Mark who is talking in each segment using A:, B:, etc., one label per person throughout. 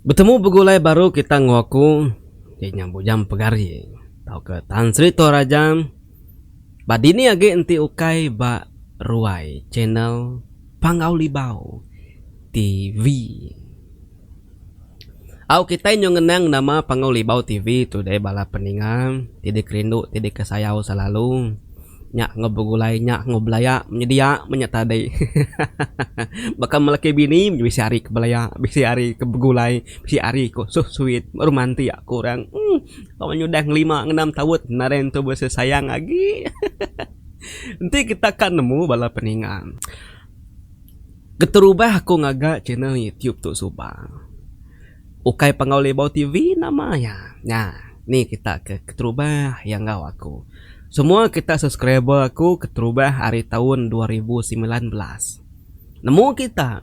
A: Betemu begulai baru kita enggau aku ti nya bujang pegari tauka Tan Sri Toraja ba dini agi enti ukai ba ruai channel Panggau Libau TV. Au kitai nyau ngenang nama Panggau Libau TV tu deh bala peninga ti dikerindu ti dikesayau selalu. Nya enggau begulai nya enggau belaya menyedia menya tadi hehehe baka melaki bini bisi ari ke belaya bisi ari ke begulai bisi ari ko so sweet baru manti aku orang um tau nyudah ngelima ngenam taun nadai ntu bisi sayang agi hehehe enti kita ka nemu bala peninga keterubah aku ngaga channel youtube tu suba. Ukai pengaul ibau ti vi nama iya. Nya ni kita ke keterubah iya enggau aku. Semua kita subscriber aku keterubah ari taun dua ribu semilan belas. Nemu kita.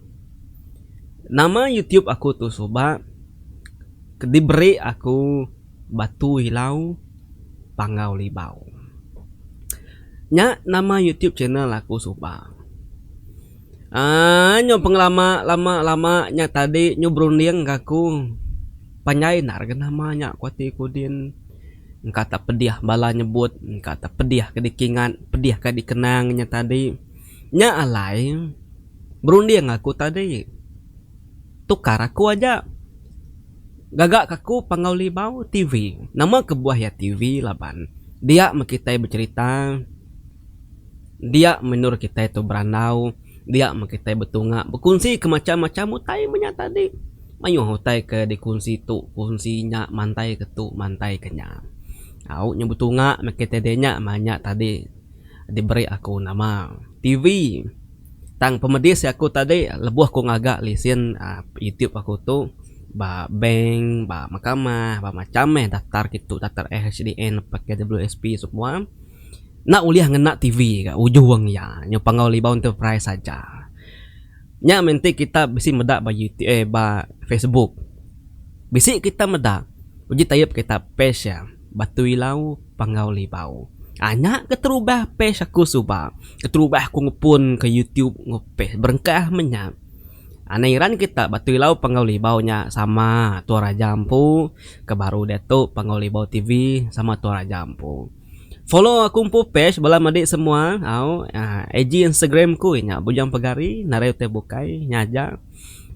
A: Nama youtube aku tu suba ke diberi aku Batu Ilau Panggau Libau. Nya nama youtube channel aku suba. Aaa nyu pengelama lama lama nya tadi nyu berunding ka aku panjai enda rega nama nya ku ati ku din engka tak pedih bala nyebut engka tak pedih ke dikingat pedih ka dikenang nya tadi nya alai berunding aku tadi tukar aku aja gaga ka aku Panggau Limau TV nama kebuah iya TV laban dia meh kitai becerita. Dia menur kitai tu berandau, dia meh kitai betunga bekunsi ke macham-macham utai meh nya tadi. Mayuh utai ke dikunsi tu kunsi nya mantai ke tu mantai ke nya. Au nyau betunga meh kitai dinya meh nya tadi diberi aku nama TV. Tang pemedis aku tadi lebuh ku ngaga lesen aaa Youtube aku tu ba bank, ba mahkamah, ba macham meh daptar ke tu daptar SHDN, PKWSP semua. Enda ulih ngena TV ga ujung iya nyau Panggau Libau Enterprise aja. Nya meh enti kita bisi meda ba YouTube eh ba Facebook. Bisi kita meda uji tayup kita page iya Batu Ilau Panggau Libau. Ai nya keterubah page aku suba. Keterubah aku ngepun ke YouTube enggau page berengkah meh nya. Anang iran kita Batu Ilau Panggau Libau nya sama tua raja empu ke baru diatu Panggau Libau TV sama tua raja empu. Follow aku empu page bala madi semua au IG Instagram ku inya Bujang Pegari narai utai bukai nya aja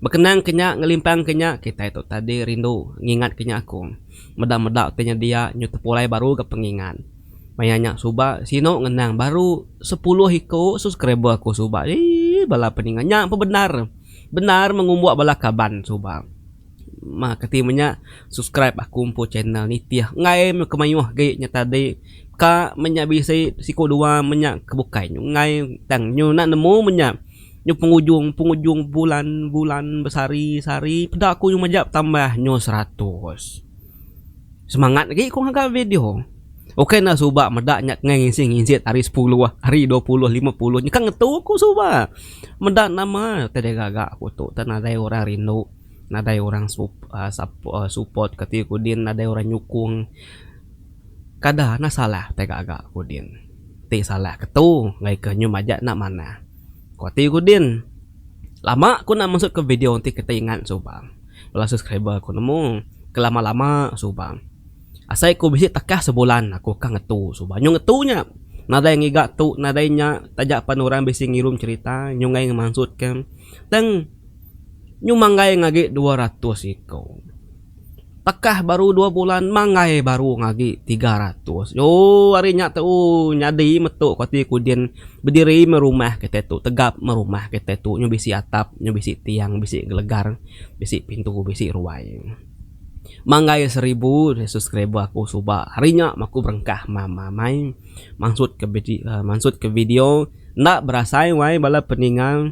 A: bekenang ke nya ngelimpang ke nya kitai tu tadi rindu ngingat ke nya aku meda meda utai nya dia nyu tepulai baru ga pengingat maya nya suba sinu ngenang baru sepuluh iko subscriber aku suba eii bala peninga nya pebendar bendar mengumbuk bala kaban suba. Terima kati menya subscribe aku empu channel nitih enggai meh kemayuh agi nya tadi ka menya bisi siku dua menya ke bukai nyu enggai tang nyu enda nemu menya nyu pengujung pengujung bulan bulan besari sari peda ku nyu majak tambah nyu seratus semangat agi ku ngaga video oke enda suba meda nya ke ngisi ngisi ari sepuluh ari dua puluh lima puluh nyikan ngetu ku suba meda nama tega gaga ku tu nadai orang rindu. nadai orang sup uhh sup uhh support kati ku din nadai orang nyukung kada nah salah tai gaga ku din ti salah ke tu ngagai ke nyu maja enda manah ku ati ku din lama ku enda mesut ke video ti kitai ingat suba bala subscriber ku nemu ke lama lama suba asai ku bisi tekah sebulan aku ka ngetu suba nyu ngetu nya nadai ngiga tu nadai nya taja pan orang bisi ngirum cherita nyu ngai ngemansut ke tang. nyu manggai ngagi dua ratus iko. Takah baru dua bulan manggai baru ngagi tiga ratus. Ooh ari nya tou nyadi metu ko ti kudin bediri meh rumah kite tu tegap meh rumah kite tu nyu bisi atap nyu bisi tiang bisi gelegar bisi pintu bisi ruai. Manggai seribu subscriber aku suba hari nya meh aku berengkah mama amai mansut ke mansut ke video enda berasai wai bala peninga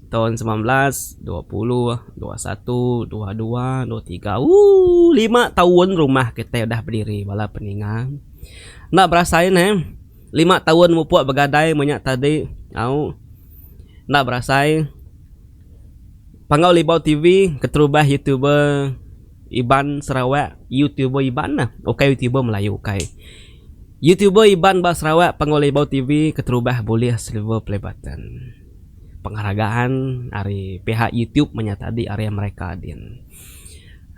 A: Taun semilan belas dua puluh dua satu dua dua dua tiga ooh lima taun rumah kitai udah bediri bala peninga enda berasa in eh lima taun mupuk begadai menya tadi au enda berasa in pangau libau tv keterubah youtuber iban sarawak youtuber iban nah ukai youtuber melayu ukai youtuber iban ba sarawak pangau libau tv keterubah bulih silver play button. penghargaan ari pihak YouTube manya tadi ari America din.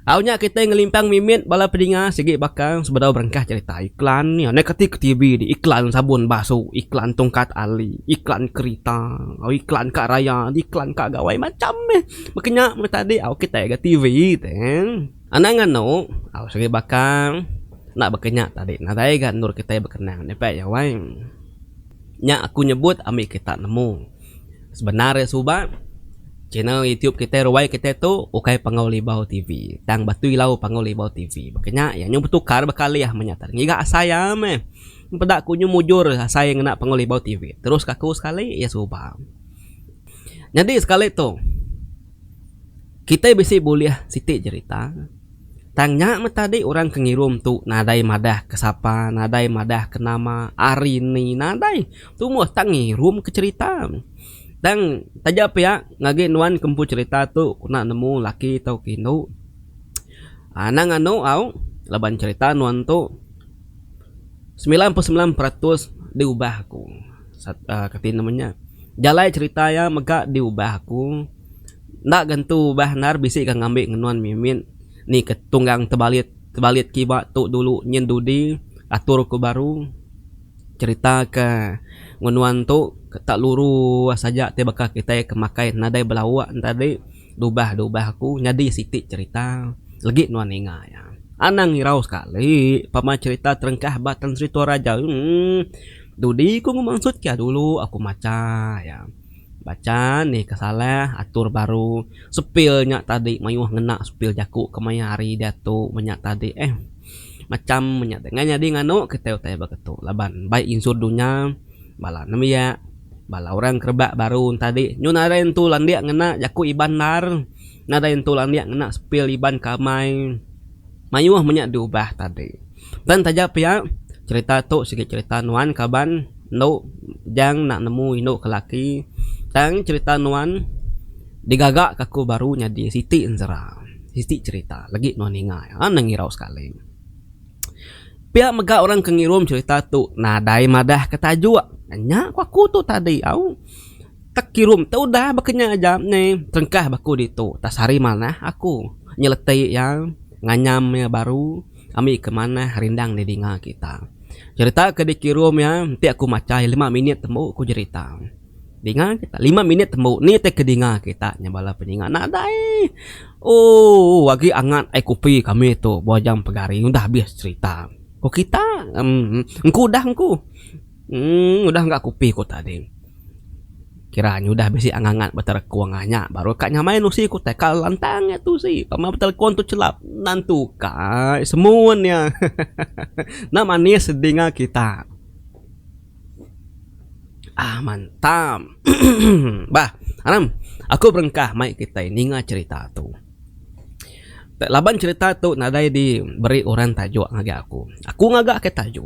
A: Au nya kitai ngelimpang mimit bala pedinga sigi baka sebedau berengkah cherita iklan nya neh keti ke TV di iklan sabun basu, iklan tungkat ali, iklan kerita, iklan kad raya, iklan kad gawai macham meh. Meh ke nya meh tadi au kitai ga TV teh. Anang anu au sigi baka enda baka nya tadi nadai ga endur kitai bekenang nya pek iya wai. Nya aku nyebut ambi kita nemu. Sebenar iya suba, channel YouTube kitai ruai kitai tu ukai Panggau Libau TV, tang Batui Lau Panggau Libau TV. Baka nya, iya nyau betukar bekalih meh nya tadi. Ngiga asai iya meh. Peda aku nyau mujur asai ngena Panggau Libau TV. Terus ka aku sekali, iya suba. Nyadi sekali tu, kitai bisi bulih siti jerita. Tang nya meh tadi orang ke ngirum tu nadai madah ke sapa, nadai madah ke nama, ari ni, nadai. Tu meh tang ngirum ke cherita. Tang taja pia ngagi nuan ke empu cherita tu kena nemu laki tauka indu. Anang anu au laban cherita nuan tu semilan puluh semilan peratus diubah aku. Kati nama nya jalai cherita iya mega diubah aku. Enda ga entu ubah endar bisi ga ngambi ngenun mimit ni ke tunggang tebalit tebalit kiba tu dulu nyin dudi atur ku baru cerita ke ngenun tu tak luru saja ti baka kitai ke makai nadai belawa tadi dubah dubah ku nyadi siti cerita legi nuan ninga iya. Anang irau sekali pama cerita terengkah ba Tan Sri Toraja uhh dudi ku ngemansut ke dulu aku macha iya. Bacha nih ke salah atur baru sepil nya tadi mayuh ngena sepil jaku ke maya hari diatu menya tadi eh. Macham menya deh. Ngai nyadi nganu kitai utai baka tu laban bai insur dunya bala nembiak bala orang ke rebak baru tadi nyu nadai entu landik ngena jaku Iban ndar. Nadai entu landik ngena sepil Iban ke amai. Mayuh menya diubah tadi. Pen taja pia, cherita tu sigi cherita nuan kaban endo Jang nak nemu indu ke laki tang cherita nuan digaga ke aku baru nyadi siti enzera, siti cherita legi nuan ninga iya ha nang irau sekali. Pia mega orang ke ngirum cherita tu nadai madah ke tajuk, nya ku aku tu tadi au. Tek kirum te udah baka nya aja ne terengkah ba aku ditu tak sehari manah aku nyeleti iya nganyam iya baru ami ke manah rindang di dinga kita. Jerita ke dikirum iya enti aku macha iya lima minit tembu ku jerita dinga kita lima minit tembu ni te ke dinga kita nya bala penyinga nadai ooh agi angat ai kopi kami tu buah jam pegari udah habis cerita ku kita emm engku udah engku. Emm udah ga kupi ku tadi. Kira nya udah bisi angat-angat beterekong aja nya baru ka nyamai nusi ku tai ka lantang nya tusi pama beterekong tu chelap nan tu ka ai semun nya hehehe enda manis telinga kita. Aaa mantap emm bah anang aku berengkah mai kitai ninga cherita tu. Laban cherita tu nadai di beri orang tajuk ngagai aku. Aku ngaga ke tajuk.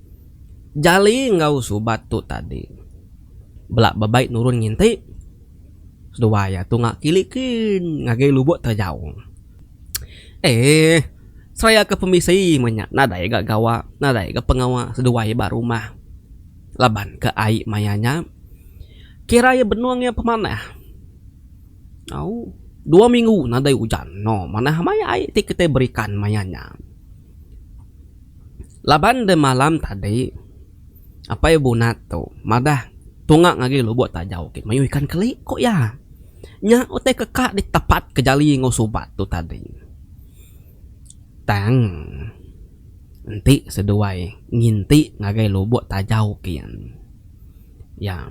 A: Jali enggau Subat tu tadi bela bebai nurun nginti. Sedua iya tu nya kili ke ngagai lubok terejau. Eeh seraya ke pemisi meh nya nadai ga gawa nadai ga pengawa seduai iya ba rumah laban ke ai maya nya kira iya benung iya pemanah. Au dua minggu nadai ujan no manah maya ai ti kitai berikan maya nya. Laban deh malam tadi Apai Bunat tu madah tunga ngagai lubok tajau ti mayuh ikan keli ku iya. Nya utai ke ka ditepat ke jali enggau subat tu tadi. Tang enti seduai nginti ngagai lubok tajau kian iya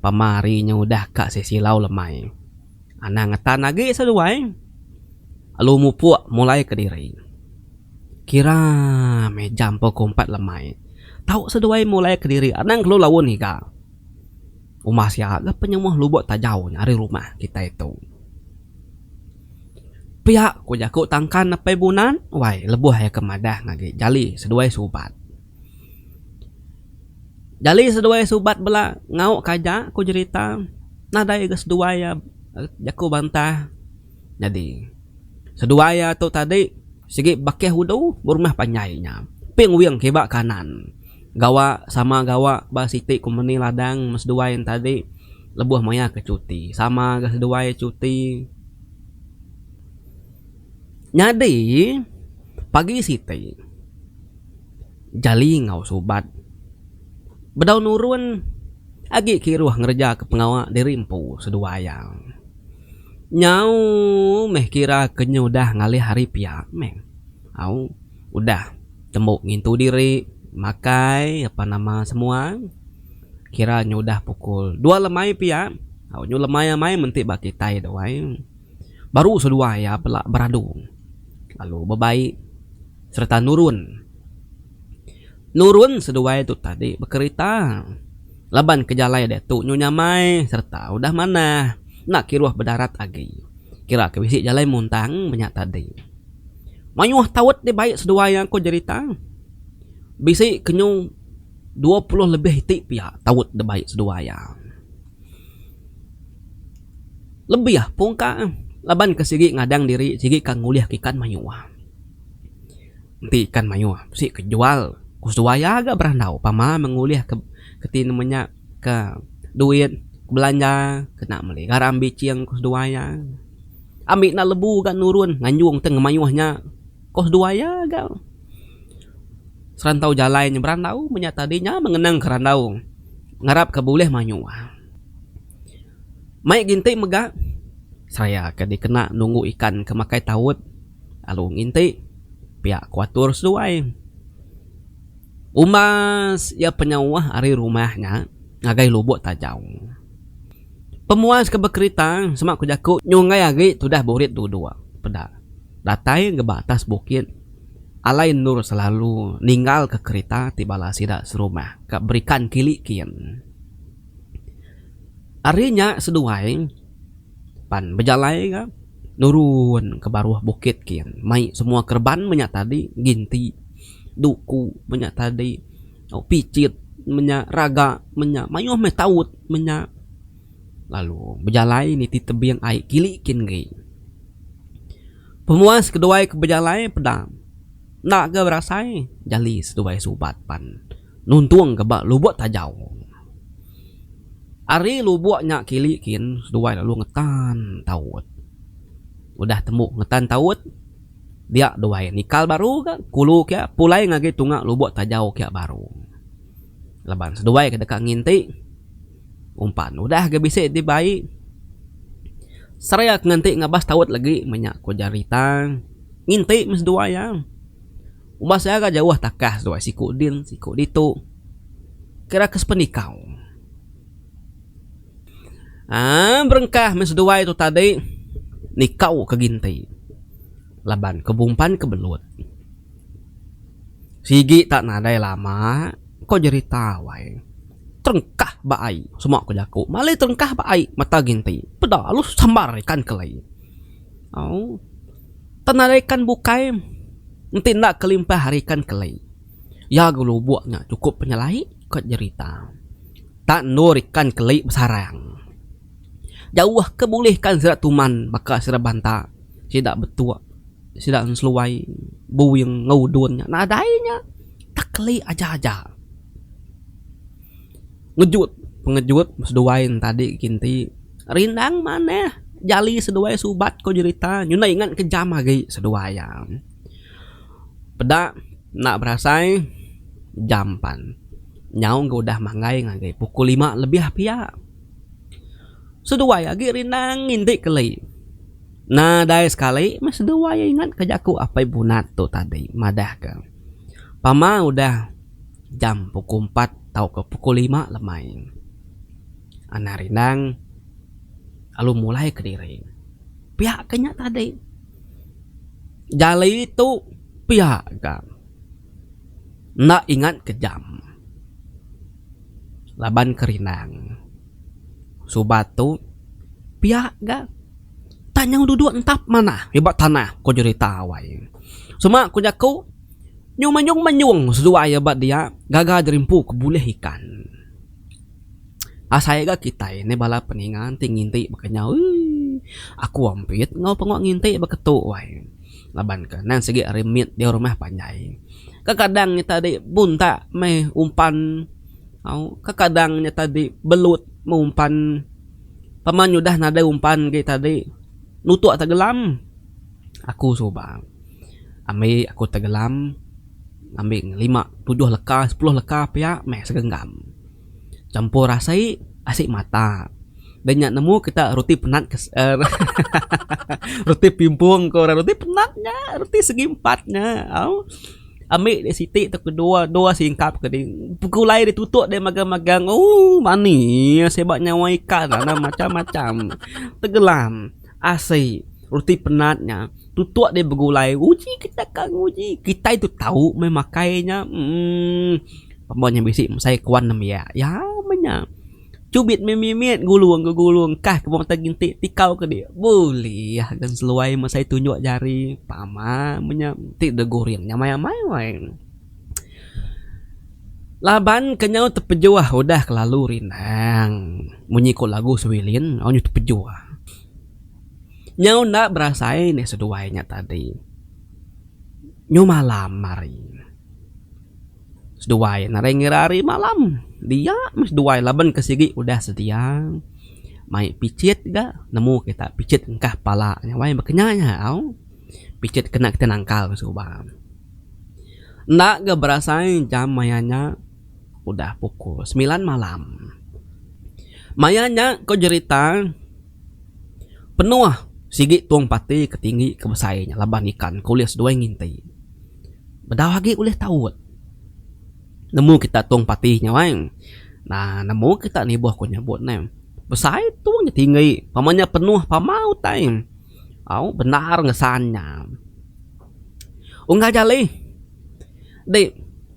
A: pama hari nya udah ka sisilau lemai. Anang ngetan agi seduai alu mupuk mulai kediri. Kira meh jam pukul empat lemai tau seduai mulai kediri anang kelu laun ngiga. Uma sia ga penyemuh lubuk tajau nya ari rumah kitai tu. Pia ku jaku tangkan apai bunan wai lebuh iya ke madah ngagai jali seduai subat. Jali seduai subat bela ngaukka aja ku jerita nadai ga seduai iya jaku bantah nyadi seduai iya tu tadi sigi bakih udu berumah panjai nya ping wing kiba kanan gawa sama gawa ba siti kompeni ladang meh seduai nya tadi lebuh maya ke cuti sama ga seduai cuti nyadi pagi siti. jali enggau subat. Bedau nurun agi kiruh ngerejaka pengawa diri empu seduai iya. Nyau meh kira ke nyudah ngalih hari pia meh. Au udah tembu ngintu diri, makai apan nama semua kira nyudah pukul dua lemai pia. Au nyu lemai amai menti ba kitai dawai baru seduai iya pela beradu lalu bebai. Sereta nurun. Nurun seduai tu tadi bekerita laban ke jalai diatu nyu nyamai sereta udah manah enda kiruh bedarat agi. Kira ke bisi jalai muntang menya tadi. Mayuh taut dibai seduai aku jerita. Bisi ke nyu dua puluh lebih iti pia taut dibai seduai iya. Lebih pungka laban ke sigi ngadang diri sigi ka ngulih ke ikan mayuh. Enti ikan mayuh bisi ke jual ku suai aga berandau pama mengulih ke ti nemu nya ke duit belanja kena meli garam bicing ku seduai iya. Ambi enda lebu ga nurun nganjung ti ngemayuh nya ku seduai iya ga serantau jalai nya berandau mung nya tadi nya mengenang ke randau ngarap ke bulih mayuh. Mai ginti mega seraya ke dikena nunggu ikan ke makai taut. lalu nginti piak ko atur seduai umbas ia penyauh ari rumah nya ngagai lubok tajau pemuas ke bekerita sema ko jaku nyunggai agi tudah burit dudok peda datai ngeba atas bukit alai endur selalu ninggal ke kerita ti bala sida serumah ka berikan kili kin ari nya seduai. pan bejalai ga nurun ke baruh bukit kin mai semua kereban menya tadi ginti duku menya tadi pichit menya raga menya mayuh meh taut menya lalu bejalai niti tebing ai kili kin agi pemuas keduai ke bejalai peda enda ga berasai jali seduai subat pan. nuntung ke ba Lubok Tajau. Ari lubok nya kili kin seduai lalu ngetan taut. Udah tembu ngetan taut, dia duai nikal baru ga kulu ke pulai ngagi tunga Lubok Tajau ke baru. Laban seduai ke deka nginti umpan udah ga bisi dibai Sera ke nganti ngabas taut lagi meh nya ku Jarita nginti meh seduai iya. Uban seara jauh takas tuai siku din siku ditu kira ke sependikau. Aaa berengkah meh seduai tu tadi nikau ke ginti laban ke bumpan ke belut. Sigi tak nadai lama ko jerita wai terengkah ba ai sema ko jaku malai terengkah ba ai mata ginti peda lalu sambar ikan kelai. Au. Penarikan bukai enti enda kelimpah ari ikan keli iya gelubuk nya chukup penyelai ko jerita tak endur ikan keli besarang jauh ke bulih ikan sida tuman baka sida banta sida betuk sida seluai buing enggau udun nya nadai nya tak keli aja aja. Ngejut pengejut seduai entadi kinti. Rindang manah jali seduai subat ko jerita nyunai ngan kejam agi seduai iya. Peda enda berasai jam pan nyau ga udah manggai ngagai pukul lima lebih pia. Seduai agi rindang nginti keli. Nadai sekali meh seduai ingat ke jaku Apai Bunat tu tadi madah ke pama udah. jam pukul empat tauka pukul lima lemai. Anang rindang lalu mulai kediri. Pia ka nya tadi. Jali tu pia ka. Enda ingat ke jam. Laban ke rindang. Suba tu pia ga. Tang nyau duduk entap manah riba tanah ko jerita awai. Sema ko jaku Nyu menyung menyung seduai iya ba dia gaga jerimpu ke bulih ikan. Asai ga kitai endai bala peninga enti nginti ba kenyau eeii aku ampit enggau pengu nginti ba ketu wai laban ke nan sigi ari mit jauh rumah panjai. Kekadang nya tadi buntak meh umpan au kekadang nya tadi belut meh umpan pema nya udah nadai umpan agi tadi nutuk tegelam aku suba. Ambi aku tegelam ambi lima tujuh leka sepuluh leka pia meh segenggam champur asi asi mata deh nya nemu kita roti penat roti pimpong ko orang roti penat nya roti segi empat nya au ambi deh siti tau dua dua singkap ke ding begulai deh tutok deh magang magang ooh manis seba nyawa ikan macam macam tegelam. Asai, roti penat nya. Tutuk deh begulai. Uji ke chakang uji. Kitai tu tau meh makai nya. Umm. Pemau nya bisi mesai kuan nembiak. Ya meh nya. Chubit meh mimit gulung ke gulung. Kah ke mata ginti tikau ke dek. Bulih agen seluai mesai tunjuk jari. Pama meh nya. Ti deh guring nya maya mai wai. Laban ke nyau tepejuah udah kelalu rindang munyi ku lagu Swilin nyau tepejuah nyau enda berasai anih seduai nya tadi nyau malam hari seduai nya ngagai ngira hari malam dia meh seduai laban ke sigi udah sedia mai picit ga nemu kita picit engkah pala nya wai ba kenyau nya au picit kena kita nangkal suba. Enda ga berasai jam maya nya udah pukul semilan malam. Maya nya ko jerita penuh sigi tong parti ke tinggi ke besai nya laban ikan ke ulih seduai nginti. Bedau agi ulih taut nemu kita tong parti nya wang uhh nemu kita nibuh ko nyebut ne besai tong nya tinggi pama nya penuh pama utai au bendar ngesan nya. Unggah jali ti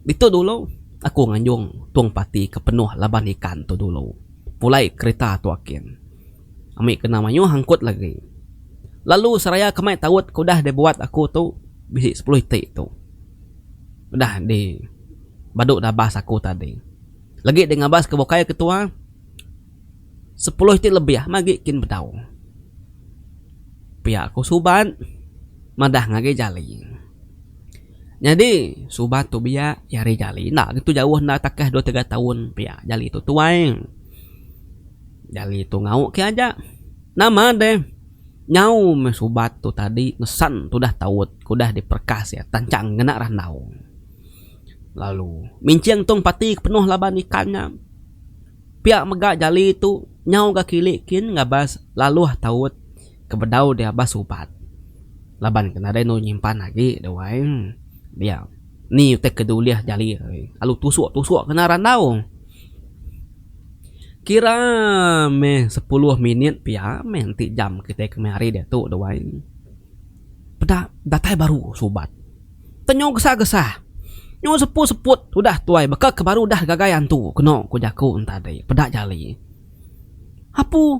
A: ditu dulu aku nganjung tung parti ke penuh laban ikan tu dulu pulai kerita tu ake ami kena mayuh angkut lagi lalu seraya ke meh taut ke udah dibuat aku tu bisi sepuluh iti tu udah di badu dabas aku tadi lagi di ngabas ke bukai ketua. Sepuluh ti lebih magi kin bedau. Pia ku Subat madah ngagai Jali. Nyadi Subat tu biak iya ari Jali enda gitu jauh enda takah dua tiga taun pia Jali tu tuai. Jali tu ngau ke aja. Nama deh nyau meh Subat tu tadi mesan tudah taut ke udah diperkas iya tanchang ngena randau. Lalu minching tung pati ke penuh laban ikan nya. Pia mega jali tu nyau ga kili kin ngabas laluh taut ke bedau dia ba subat laban ke nadai enu nyimpan agi deh wai dia ni utai ke diulih jali lalu tusuk tusuk kena randau kira meh sepuluh minit pia meh enti jam kitai kemari diatu deh wai peda datai baru subat. Tenyau gesah-gesah. Nyau sepu-seput udah tuai baka ke baru udah gagai antu keno ku jaku entadi peda jali. Apu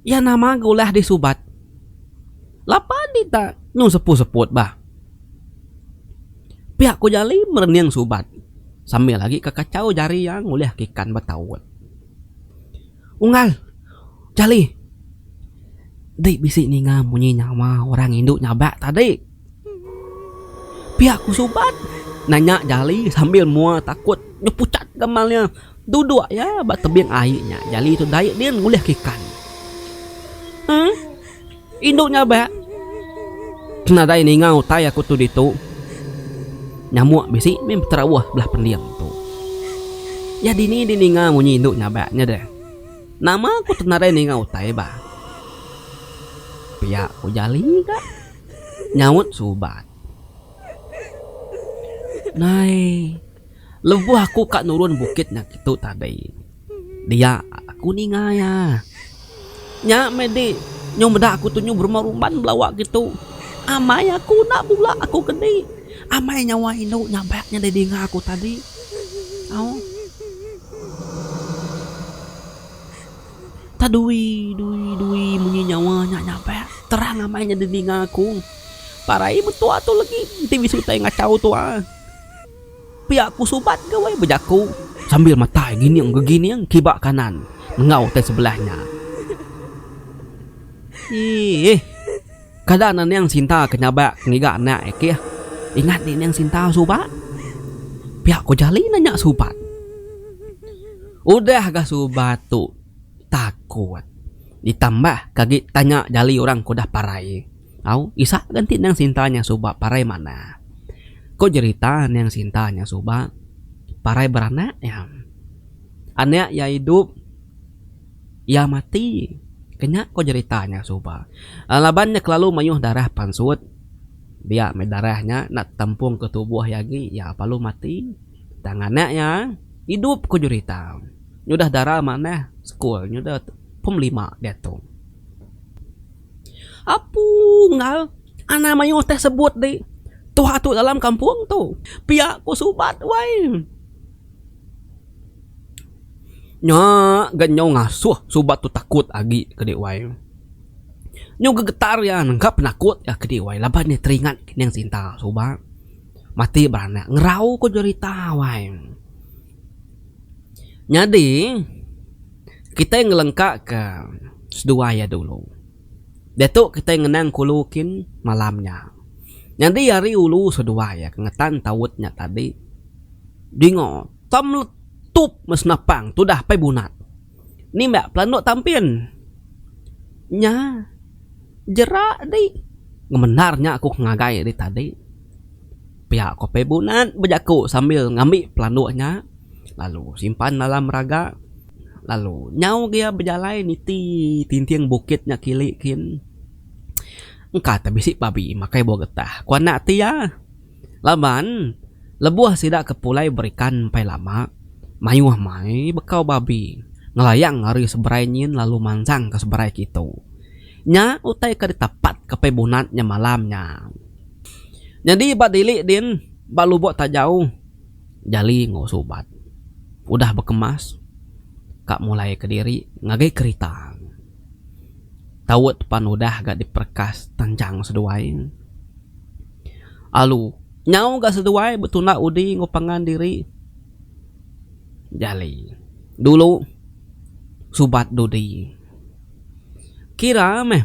A: iya nama ga ulah disubat. Lapa dita nyau sepu-seput bah. Pia ku jali merening subat sambil agi ke kachau jari iya ngulih ke ikan betaut. Unggal, Jali. Dei bisi ninga munyi nyawa orang indu nyabak tadi. Pia ku Suban, nanya Jali sambil mua takut nyepuchat gamal iya. Duduk iya ba tebing ai nya, Jali tu dai din ngulihka ikan. Emm. Indu nya ba. Nadai ninga utai aku tu ditu. Nyamuk bisi meh beterauh belah pending tu. Iya dini dininga munyi indu nya ba nya deh. Nama aku tu nadai ninga utai ba. Pia ku Jali ga nyaut suba. Nai. Lebuh aku ka nurun bukit nyakitu tadi, dia aku ninga iya. Nya meh di, nyau meda aku tunyu berumah rumban belawa kitu, amai aku enda bula aku ke di. Amai nyawa indu nyabak nyadi dinga aku tadi. Au. Ta dui dui dui munyi nyawa nya nyabak terang amai nyadi dinga aku. Parai metua tu legi enti bisi utai ngachau tua. Pia ku Subat gawai bejaku sambil matai gining gegining kiba kanan enggau utai sebelah nya. Iih. Kada nening Sinta ke nyabak ke ngiga anak ikih. Ingat nining Sinta suba. Pia ku Jali nanya Subat. Udah ga Subat tu takut ditambah ke agi tanya Jali orang ke udah parai. Au, Isak ga enti Nang Sinta nyang suba parai manah. Ko jerita Nang Sinta nyang suba parai beranak iya. Anak iya idup, iya mati. Kenya ko jerita nyang suba. Laban iya kelalu mayuh darah pansut. Dia meh darah nya enda tetampung ke tubuh iya agi, iya lalu mati. Tang anak iya idup ko jerita. Nyudah dara manah sekul, nyudah pum lima diatu. Apu enggau anai mayuh teh sebut ti tuha tu dalam kampung tu pia ku subat wai nya ga nyau ngasuh subat tu takut agi kadi wai nyau gegetar iya ga penakut iya kadi wai laban iya teringat kining sinta subat mati beranak ngerau ku jerita wai nyadi. kitai ngelengkaka seduai iya dulu. Diatu kitai ngenang kulu kin malam nya. Nyadi ari ulu seduai iya ke ngetan taut nya tadi dinga tam letup meh senapang tudah apai bunat nimbak pelanduk tampin. Nya jerak dih ngemendar nya aku ke ngagai ari tadi. Pia ko Pei Bunat bejaku sambil ngambi pelanduk nya lalu simpan dalam raga lalu nyau agi iya bejalai niti tinting bukit nya kili kin engka te bisi babi makai buah getah ku anak ti iya laban lebuh sida ke pulai berikan empai lama mayuh mai bekau babi ngelayang ari seberai nyin lalu mansang ke seberai kitu. Nya utai ke ditapat ke Pei Bunat nya malam nya. Nyadi ba dili din ba lubok tajau jali enggau subat udah bekemas ka mulai kediri ngagai kerita taut pan udah ga diperekas tanjang seduai alu nyau ga seduai betunda udi enggau pangan diri jali dulu subat dudi. Kira meh,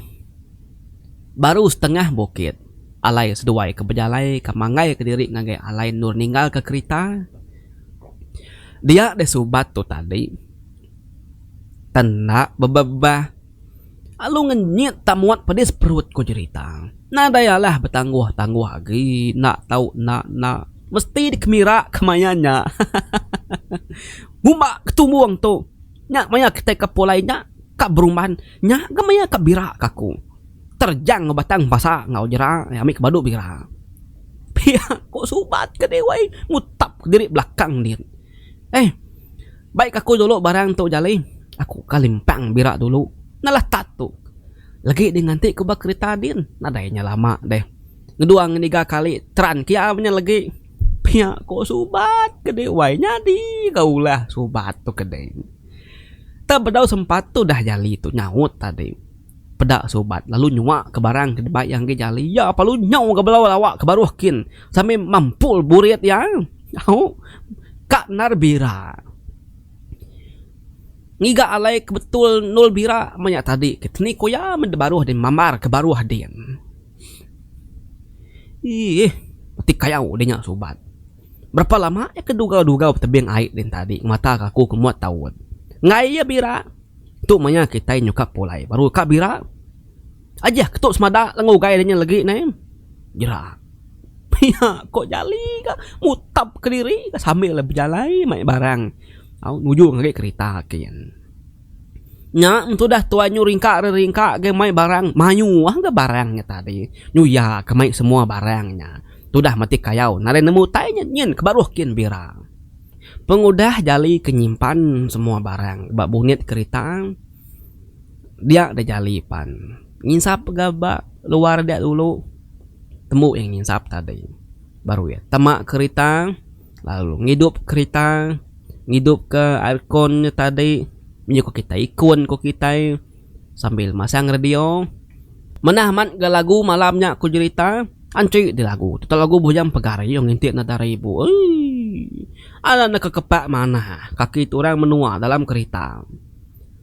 A: baru setengah bukit alai seduai ke bejalai ke manggai ke diri ngagai alai endur ninggal ke kerita. Dia deh subat tu tadi tan enda bebebah lalu ngenyit tak muat pedis perut ku jerita. Nadai alah betangguh tangguh agi enda tau enda enda mesti dikemira ke maya nya. Ngumba ke tumbung tu. Nya maya kitai ke pulai nya ka berumban nya ga maya ka bira ka aku. Terjang enggau batang basa enggau jera ami ke badu bira. Pia ku subat ke dih wai mutap ke diri belakang din. Eh bai ka aku dulu barang tu jali aku ka limpang bira dulu nalah tat tu legi dih nganti ku ba kerita din nadai nya lama dih. Ngedua ngeniga kali teran ke iya menya legi. Pia ko subat ke dek wai nyadi ga ulah subat tu ke dek. Tang bedau sempat tu dah jali tu nyaut tadi peda subat lalu nyua ke barang ke dibai iya enggai jali iya pa lalu nyau ga bala lawa ke baruh kin sambil mampul burit iya au ka endar bira. Ngiga alai ke betul endul bira maya tadi ke tini ko iya meh da baruh din mambar ke baruh din. Iih, ti kayau deh nya subat. Berapa lama iya ke dugau-dugau betebing ai din tadi ngemata ke aku ke muat taun. Enggai iya bira. Tu maya kitai nyukap pulai baru ka bira. Ajih ke tu semada lenga ugai inya lagi neh. Jera. Pia ko jali ka mutap kediri sambil bejalai mai barang au nuju ngagai kerita kieh. Nya tudah tuai nyu ringka ari ringka gei mai barang mayuh ga barang nya tadi nuya ka mai semua barang nya tudah mati kayau nadai nemu utai nya nyin ke baruh kin bira pengudah jali ke nyimpan semua barang ba bunit kerita dia da jali pan nginsap ga ba luar dia dulu tembu iya nginsap tadi baru iya tama kerita. Lalu ngidup kerita, ngidup ke aircon nya tadi, menyuka kitai ikun ko kitai sambil masang radio. Manah amat ga lagu malam nya ko jerita, anchi di lagu tu tau lagu bujang pagar ayu ngintik nada aribu uii. Ala ne kekepak manah kaki tu orang menua dalam kerita.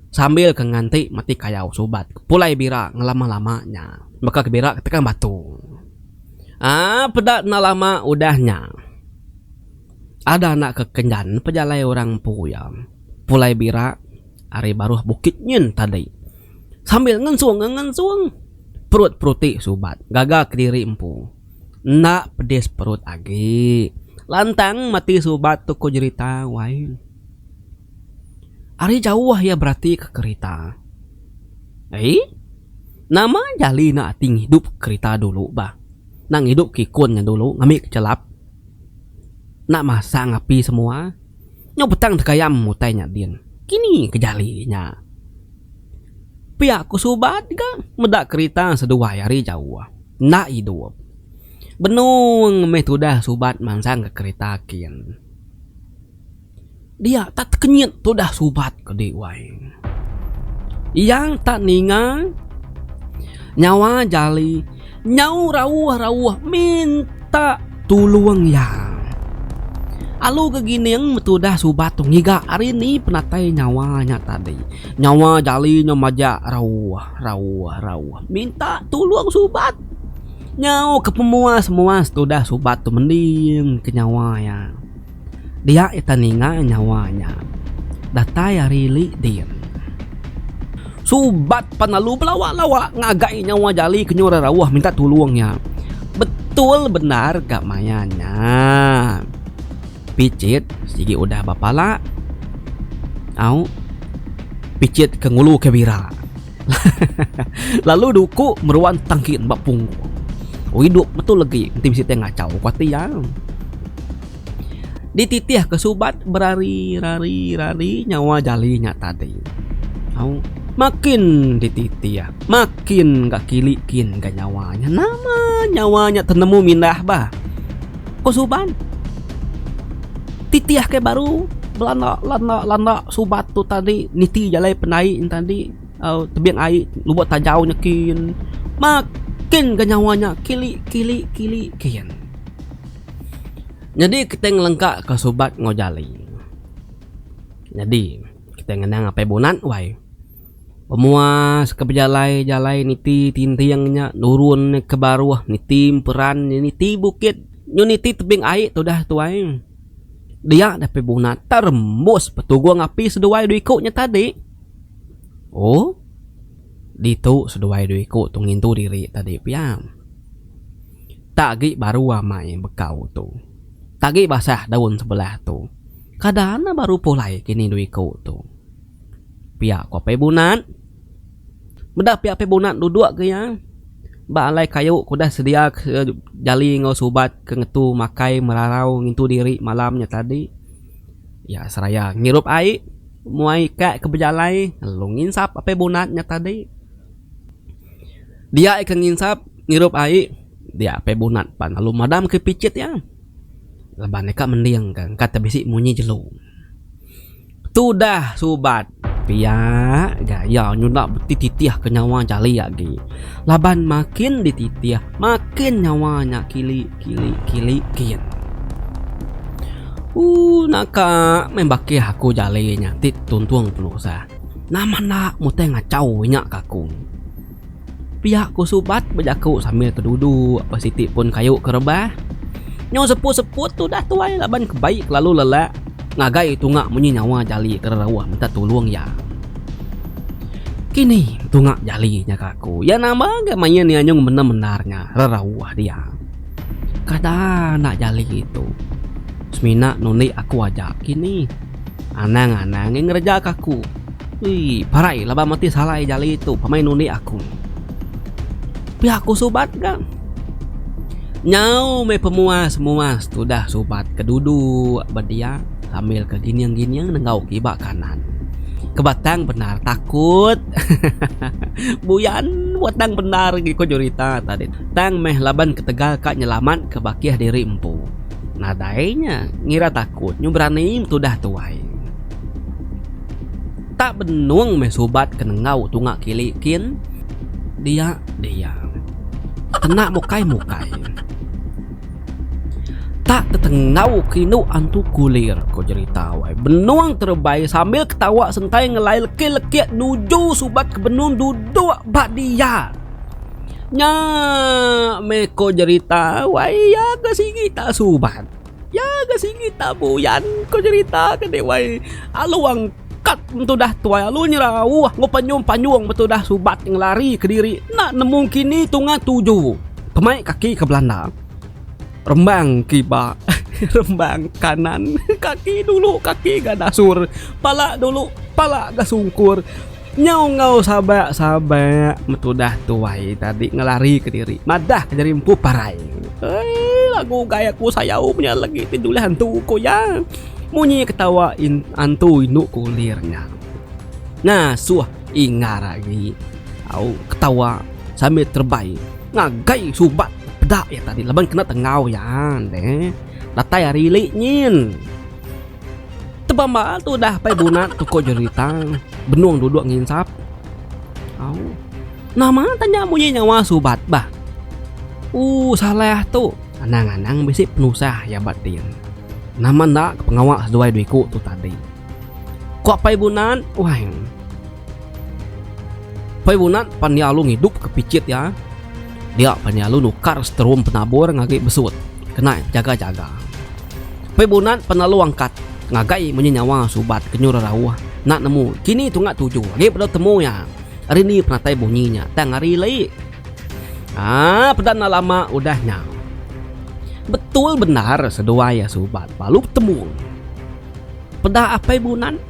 A: sambil ke nganti meti kayau subat ke pulai bira ngelama-lama nya baka ke bira ketekan batu. Aa peda enda lama udah nya ada anak ke kenyan pejalai orang empu iya pulai bira ari baruh Bukit Nyin tadi sambil ngensung ka ngensung perut peruti subat gaga kediri empu enda pedis perut agi lantang meti subat tu ko jerita wai. Ari jauh iya beratika kerita. Ai, nama jali enda ati ngidup kerita dulu bah. Enda ngidup kikun nya dulu ngambi ke chelap. Enda masang api semua. Nyau petang tekayam utai nya din. Kini ke jali nya. Pia ku subat ga meda kerita seduai ari jauh. Enda idup. Benung meh tudah subat mansangka kerita kin. Dia tak tekenyit tudah subat ke di wai. Iya tak ninga nyawa jali nyau rauh-rauh minta tulung iya. Alu ke gining betudah subat tu ngiga ari ni penatai nyawa nya tadi. Nyawa jali nya majak rauh-rauh-rauh minta tulung subat. Nyau ke pemuas-muas tudah subat tu mending ke nyawa iya. Dia ita ninga nyawa nya. Datai ari li din. Subat pan lalu belawa-lawa ngagai nyawa jali kenyau ra rauh minta tulung nya. Betul bendar ga maya nya. Pichit sigi udah bapala au pichit ke ngulu ke bira. Lalu duku meruan tangkin ba pungu. Oh idup metu legi enti bisi tai ngachau ku ati iya. Dititih ke subat berari rari rari nyawa jali nya tadi. Au makin dititih makin ga kili kin ga nyawa nya. Nama nyawa nya tenemu mindah bah. ko suban titih ake baru belanda landa landa subat tu tadi niti jalai penai en tadi au tebing ai nubo tajau nyekin makin ga nyawa nya kili kili kili kian nyadi kitai ngelengka ka subat enggau jali nyadi kitai ngenang apai bungan wai Pemuas ke bejalai jalai niti tinting nya nurun iya ke baruh niti emperan iya niti bukit nyu niti tebing ai tudah tuai dia deh pe buna terembus petugung api seduai dua iku nya tadi oh ditu seduai dua iku tu ngintu diri tadi pia nta agi baru amai bekau tu nta agi basah daun sebelah tu kada ne baru pulai kini dua iku tu. Pia ko Apai Bunat. Meda pia Apai Bunat duduk ke iya ba alai kayu ke udah sedia ke jali enggau subat ke ngetu makai merarau ngintu diri malam nya tadi. Iya seraya ngirup ai. Mu ai ka ke bejalai lalu nginsap Apai Bunat nya tadi. Dia ika nginsap ngirup ai dia Apai Bunat pan lalu madam ke pichit iya laban iya ka mending ka engka te bisi munyi jelu. Tudah subat pia gaya nyuda beti titih ke nyawa jali agi laban makin di titih makin nyawa nya kili kili kili gin. Ooh naka meh bakih aku jali nya ti tuntung penusah nama enda mutai ngachau inya ka aku. Pia ku Subat bejaku sambil keduduk ba siti pun kayu ke rebah. Nyau seput-seput tu udah tuai laban ke bai kelalu lelak ngagai tunga munyi nyawa jali ke rerauh minta tulung iya. Kini tunga jali nya ka aku iya nama ga main iya nyung bendar-bendar nya rerauh dia. Kada enda jali tu. Semina nundi aku aja kini. Anang-anang ngereja ka aku. Ui parai laban meti salai jali tu pamai nundi aku. Pia ku subat ga. Nyau meh pemuas muas tudah subat ke duduk ba dia sambil ke gining gining nenggau kiba kanan. Kebatang bendar takut. Buyan batang bendar agi ku jurita tadi tu. Tang meh laban ketegal ka nyelamat ke bakih diri empu. Nadai nya ngira takut nyu berani tudah tuai. Tak benung meh subat ke nenggau tunga kili kin. Dia dia. Kena mukai mukai. Tak tetenggau ke indu antu kulir ko jerita wai. Benung terebai sambil ketawa sentai ngelai leki leki nuju subat ke benung duduk ba dia. Nya meh ko jerita wai iya ke sigi tak subat. Ya ga sigi tabu yan ko jerita ke dek wai alu angkat betudah tuai alu nyerau ko panyung panyung betudah subat ngelari kediri enda nemu kini tunga tuju pemai kaki ke belanda rembang kiba rembang kanan kaki dulu kaki ga dasur pala dulu pala ga sungkur. Nyau enggau sabak sabak metudah tuai tadi ngelari ke diri madah ke jadi empu parai. Eii lagu ugai aku sayau punya legi ti julih antu ku iya. Munyi ketawa in antu indu ku ulir nya. Ngasuh ingar agi au ketawa sambil terebai ngagai subat peda iya tadi laban kena tengau iya. Deh datai ari ili nyin. Tebamba tu udah pai bunat tuko jerita benung duduk nginsap. Au. Nama tanya munyi nyawa subat bah. Ooh Saleh tu anang anang bisi penusah iya ba din. Nama enda ke pengawa seduai dua iku tu tadi. Ko pai bunat, wai. Pai Bunat pan iya alu ngidup ke pichit iya. Dia pan iya alu nukar seterum penabur ngagi besut kena jaga-jaga. Pai Bunat pan alu angkat ngagai munyi nyawa subat ke nyuruh rauh enda nemu kini tunga tuju agi bedau temu iya. Ari ni penatai bunyi nya tang hari lei. Haa peda enda lama udah nya. Betul bendar seduai iya subat balu betemu. Peda Apai Bunat.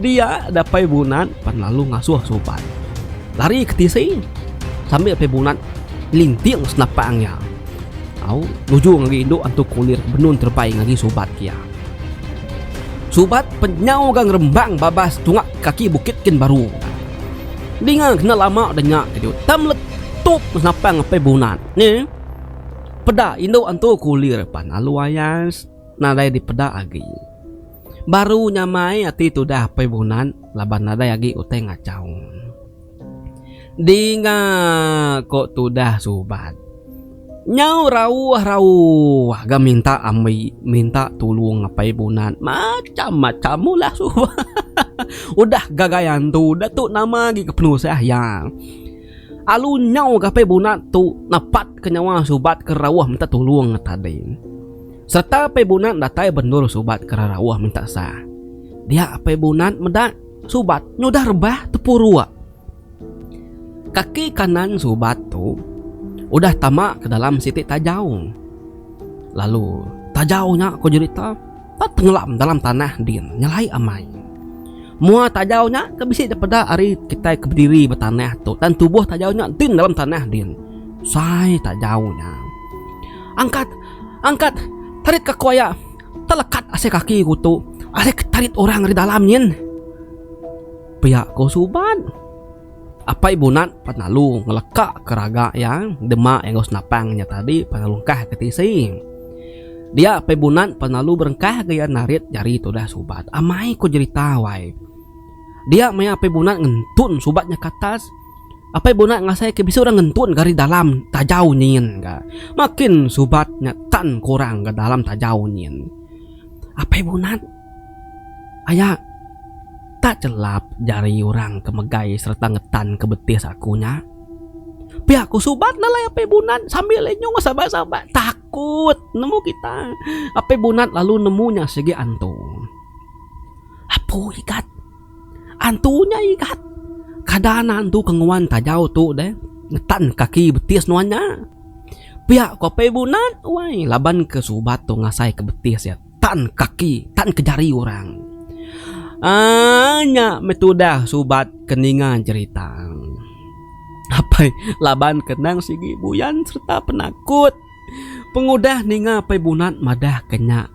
A: Dia dapai bunat pan lalu ngasuh suban lari ke tisi sambil apai bunat ngelinting senapang iya au nujung agi indu antu kulir ke benun terebai ngagi subat iya. Subat pen nyau ga ngerembang babas tunga kaki bukit kin baru nya. Dinga kena lama da nya ke diau ta meletup senapang apai bunat ne. Peda indu antu kulir pan lalu ayas nadai dipeda agi. Baru nyamai ati tudah Apai Bunan laban nadai agi utai ngachau. Dinga ko tudah Subat. Nyau rauh-rauh ga minta ambi minta tulung Apai Bunan macham-macham mula Subat. Udah gagai antu da tu nama agi ke penusah iya. Alu nyau ga Apai Bunan tu napat ke nyawa Subat ke rauh minta tulung tadi. Serta Apai Bunat datai bendur subat ke rarauh minta sa. Dia Apai Bunat meda subat nyudah rebah tepuruk. Kaki kanan subat tu udah tama ke dalam siti tajau. Lalu tajau nya ko jerita enda tengelam dalam tanah din nyelai amai. Mua tajau nya ke bisi daripada ari kitai ke bediri ba tanah tu dan tubuh tajau nya din dalam tanah din. Sai tajau nya. Angkat. Angkat tarit ka koya telekat asai kaki ku tu asai ke tarit orang ri dalam nyin. Pia ko suban. Apai bunat pan lalu ngeleka ke raga iya dema iya enggau senapang nya tadi pan lalu engkah ke tisi. Dia apai bunat pan lalu berengkah ga iya narit jari tudah subat. Amai ko jerita wai. Dia maya apai bunat ngentun subat nya ke atas. Apai Bunat ngasaika bisi orang ngentun ke ari dalam tajau nyin ga. Makin subat nya tan ke orang ga dalam tajau nyin. Apai Bunat aya tak chelap jari orang ke megai sereta ngetan ke betis aku nya. Pia ku subat nalai Apai Bunat sambil inyo sabat-sabat takut nemu kita. Apai Bunat lalu nemu nya sigi antu. Apu Igat. Antu nya igat. Kada anak antu ke nguan tajau tu deh ngetan kaki betis nuan nya. Pia ko Apai Bunat wai laban ke subat tu ngasai ke betis iya tan kaki tan ke jari orang. Aaa nya meh tudah subat ke ninga jerita. Apai laban ke endang sigi buyan serta penakut pengudah ninga Apai Bunat madah ke nya.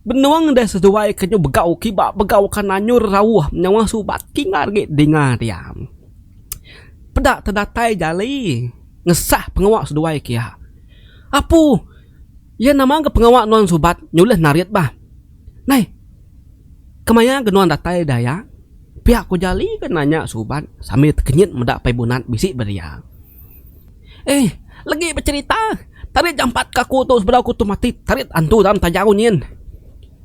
A: Benung deh seduai ke nyau begau kiba begau ka nanyur rauh nyawa subat king agi dinga diam. Peda te datai jali ngesah pengawa seduai ke iya. Apu iya nama ga pengawa nuan subat nyulih narit bah. Nai kemaya ga nuan datai da iya pia ko jali ga nanya subat sambil tekenyit meda pai bunat bisi ba dia. Ehh legi becerita tarit jampat ke aku tu sebedau aku tu mati tarit antu dalam tajau nyin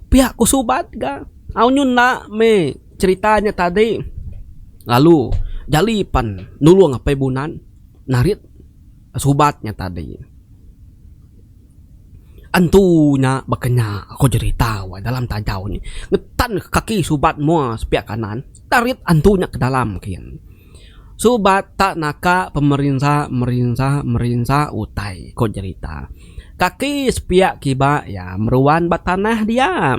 A: pia aku subat ga au nyu enda meh cerita nya tadi lalu jali pan nulong apai bunan narit subat nya tadi antu nya baka nya aku cerita wak dalam tajau nyi ngetan kaki subat mua pia kanan tarit antu nya ke dalam kiye. Subat tak naka pemerinsa merinsa merinsa utai, ko jerita. Kaki sepiak kiba iya meruan ba tanah dia.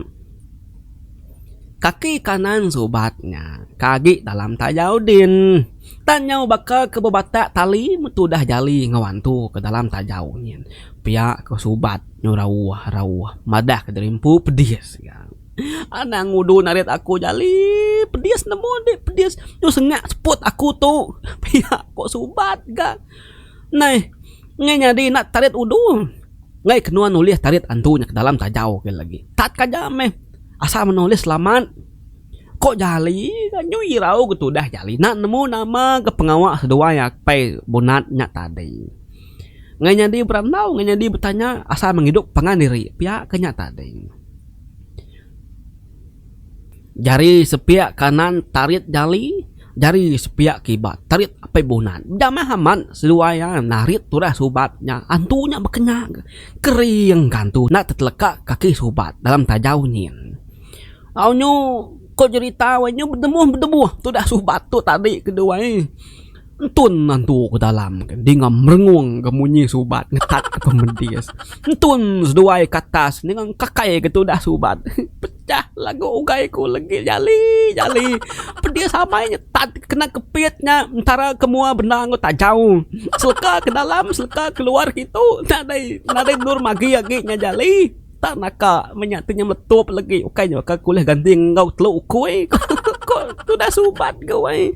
A: Kaki kanan Subat nya ka agi dalam tajau din. Tang nyau baka ke bebatak tali metudah jali ngewantu ke dalam tajau nyin. Pia ko Subat nyu rauh rauh madah ke diri empu pedis iya. Anang ngudun arit aku nyali pedis nemu indi pedis tu sengat seput aku tu pia ko subat ga nai ngai nyadi ina tarit udu ngai kenua nulis tarit andu nya ke dalam tajau ke lagi tat ka ja meh asal meh nulis selamat ko jali ga nyu irau ke tudah jali ina nemu nama ke pengawa seduai apai bunat nya tadi ngai nyadi berandau ngai nyadi betanya asal mengidup pangan diri pia ke nya tadi. Jari sepiak kanan tarit jali, jari sepiak kiba tarit apai bunan. Jamah amat seduai iya narit turas ubat nya. Antu nya bekena kering ka antu enda teteleka kaki subat dalam tajau nyin. Au nyu ko jerita wei nyu bedemuh bedebuh tudah subat tu tadi keduai. Entun nantu ke dalam ke dinga merengung ke munyi subat ngetat ke pemedis. Entun seduai ke atas dinga engkakai ke tudah subat. Pecah lagu ugai ku legit jali jali. Pedis amai nyetat ke kena kepit nya entara ke mua bendar enggau tajau. Seleka ke dalam seleka ke luar kitu nadai nadai endur magi agi nya jali. Entah naka meh nya ti nya meletup legi ukai nya ke ulih ganti enggau telu ukui ku tudah subat ku ai.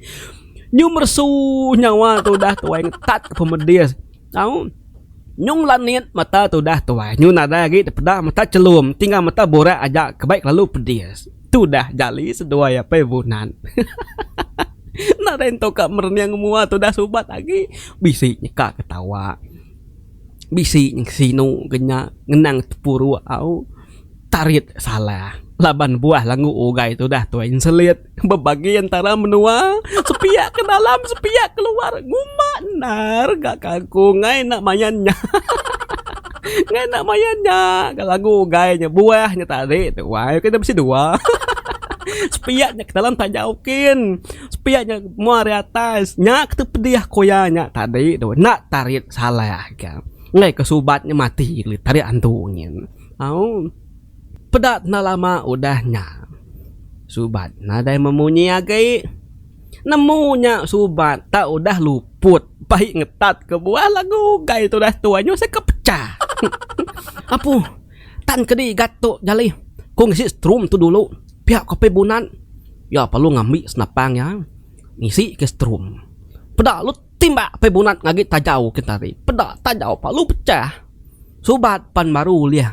A: Nyung meresu nyawa tudah tuai ngetat ke pemedis. Au. Nyung lanit mata tudah tuai. Nyung nadai agi dipeda mata chelum ti enggau mata burak aja ke bai kelalu pedis. Tudah jali seduai apai Bunan. Hahaha. Nadai entu ka merening mua tudah subat agi. Bisi nyeka ketawa. Bisi ngesinu ke nya ngenang tepuru au. Tarit salah laban buah langgu ugai tudah tuai nselit. Bebagi entara menua, sepiak ke dalam sepiak ke luar. Ngumba endar ga ke aku ngai enda mayan nya. Ngai enda mayan nya ga lagu ugai nya buah nya tadi tu wai ku ida bisi dua. Sepiak nya ke dalam taja ok. Sepiak nya mung ari atas nya ke tu pedih aku ya nya tadi tu enda tarit salah ka. Enggai ke subat nya mati tarit antu nyin. Au. Peda enda lama udah nya, Subat nadai memunyi agi. Nemu nya Subat tak udah luput bai ngetat kebuah lagu ugai tudah tuai nyau seka pecah. Apu, tan kedi gat tu jali. Ku ngisi strum tu dulu, pia ku Apai Bunat. Iya perlu ngambi senapang iya ngisi ke strum. Peda lut. Timbak pai bunat ngagi tajau kentari. Peda tajau palu pecah. Subat pan baru ulih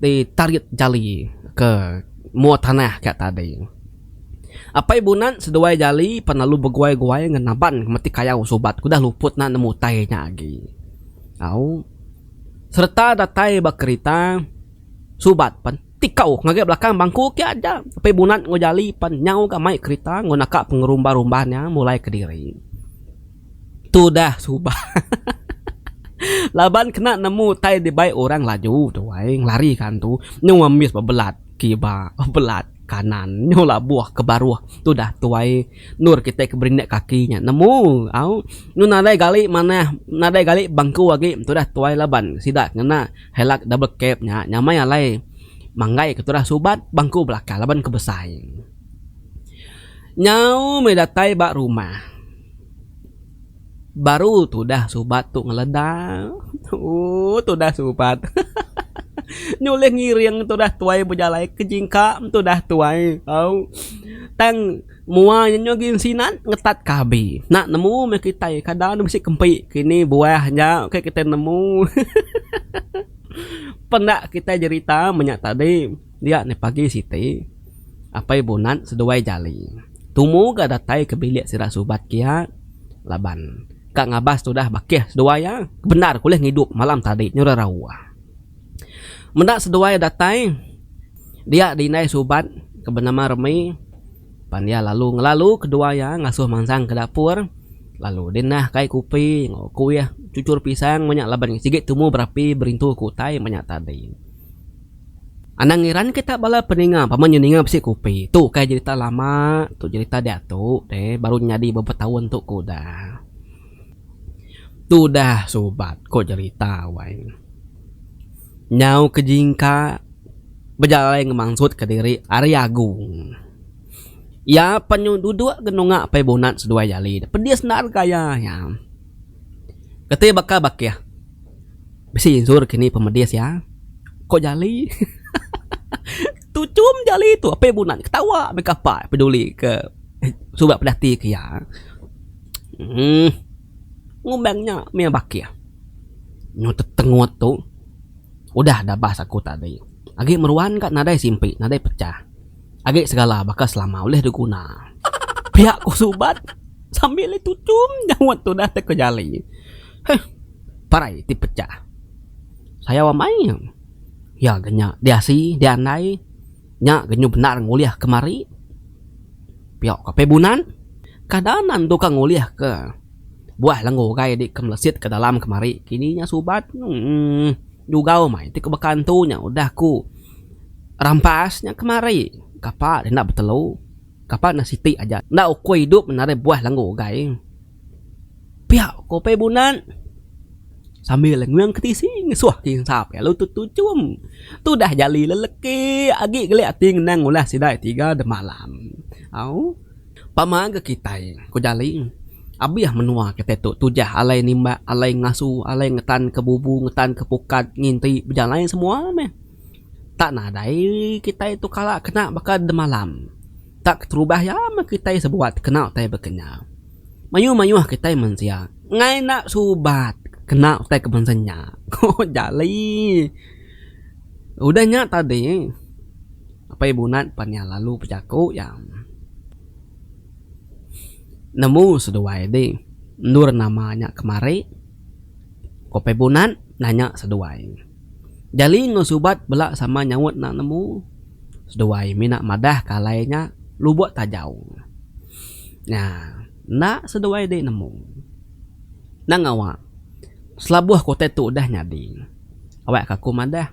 A: di tarit jali ke mua tanah ka tadi. Apai bunat seduai jali pan lalu beguai-guai ngan naban ke meti kayau subat ke udah luput na nemu utai nya agi. Au. Sereta datai ba kerita subat pan. Tikau ngagai belakang bangku ke aja Apai Bunat enggau Jali pan nyau ga mai kerita enggau naka pengerumba-rumba nya mulai kediri. Tu dah suba laban kena nemu utai dibai orang laju tu ai ngelari ka antu nyau ambis bebelat kiba bebelat kanan nyau labuh ke baruh tu dah tuai endur kitai ke berindik kaki nya nemu au nyau nadai gali manah nadai gali bangku agi tu dah tuai laban sida ngena. Hilux double cab nya nyamai alai manggaika tudah subat bangku belakang laban ke besai. Nyau meh datai ba rumah baru tudah subat tu ngeleda ooh tudah subat hahaha nyulih ngiring tudah tuai bejalai ke jingka tudah tuai au tang. Mua nya nyugi sinan ngetat ka abi. Enda nemu meh kitai kada ne bisi kempi kini buah nya ke kitai nemu. Penda kitai jerita menya tadi dia ne pagi siti apai bunat seduai jali tumu ga datai ke bilik sida subat kia laban ka ngabas tudah bakih seduai iya bendar ke ulih ngidup malam tadi nyudah rawa. Meda seduai datai dia diindai subat ke benama Remi pan iya lalu ngelalu kedua iya ngasuh mansang ke dapur lalu deh neh kai kopi enggau kuih cucur pisang meh nya laban sigi tumu berapi berintu ke utai meh nya tadi. Anang ngiran kita bala peninga pama inya ninga bisi kopi tu kai jerita lama tu jerita diatu deh baru nyadi berapa taun tu ke udah. Tudah subat ko jerita wai nya. Nyau ke jingka bejalai ngemansut ke diri ari agung. Iya pen nyu dudok genunga pai bunat seduai jali ne pedis enda rega iya nya. Keti baka bakih bisi insur kini pemedis iya ko jali hehehe tuchum jali tu apai bunat ketawa meh kapa peduli ke suba pedati ke iya. uhh ngumbai nya mih bakih nyu tetengut tu udah dah bas aku tadi agi meruan ka nadai simpi nadai pecah agi segala baka selama ulih diguna pia ku subat sambil le tuchum jawat tu dah teka jali huh parai ti pecah sayau amai ya ke nya diasi diandai. Nya genyuh bendar ngulih ke mari. Pio ka pe bunan. Kada nan tu ka ngulih ke buah lenggu ugai di ke melesit ke dalam ke mari kini nya subat emm jugau mai ti ke baka ntu nya udah ku rampas nya ke mari kapa enda betelu kapa enda siti aja enda ukui idup nari buah lenggu ugai. Pia ko Upai Bunat sambil nguing ke tisi ngesuh ke insa pia lalu tu tuchum. Tu udah jali leleki agi kelik ati ngenang ulah sida tiga dema alam. Au pama ga kitai ko jali abih menua kitai tu tujah alai nimbak alai ngasu alai ngetan ke bubu ngetan ke pukat nginti bejalai semua meh tak nadai kitai tu kala kena baka demalam. Tak keterubah iya meh kitai sebuah kena utai bekenyau. Mayuh-mayuh kitai mensia enggai enda suba kena utai ke bangsa nya, ku Jali. Udah nya tadi, Apai Bunat pan iya lalu bejaku iya. Nemu seduai di endur nama nya kemari? ku Apai Bunat nanya seduai. Jali enggau Subat bela sama nyaut enda nemu. seduai mina madah ke alai nya lubok tajau nya enda seduai diri nemu enda ngawa selabuh ke utai tu udah nyadi awak ke aku madah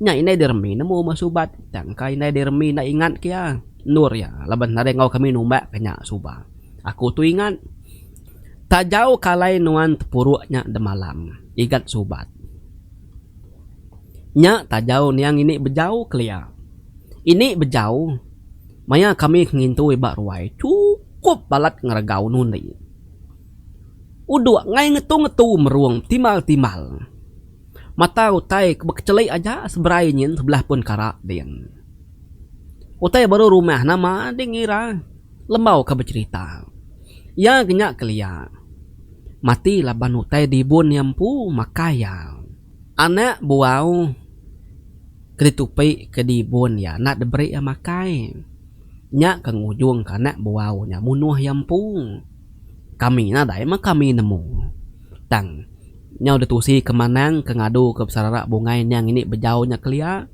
A: nya indai diremi nemu meh subat tang ka indai diremi enda ingat ke iya endur iya laban nadai ngawa kami numbak ke nya suba aku tu ingat tajau ke alai nuan tepurok nya demalam ingat subat. Nya tajau nia ngini bejau kelia. Ini bejau maya kami ngintui ba ruai chukup balat ngeregau nundi. Uduk ngai ngetu-ngetu merung betimbal-timbal. Mata utai ke bekecheli aja seberai nyin sebelah pun kara din. Utai baru rumah nama ding ira. Lembau ke becerita. Iya genya kelia. Mati laban utai dibun iya empu makai iya. Anak buau ke ditupi ke dibun iya enda diberi iya makai. Nya ke ngujung ke anak buau nya munuh iya empu. Kami nadai meh kami nemu. Tang nyau ditusi ke manang ke ngadu ke besarara bungai niang ini bejau nya kelia.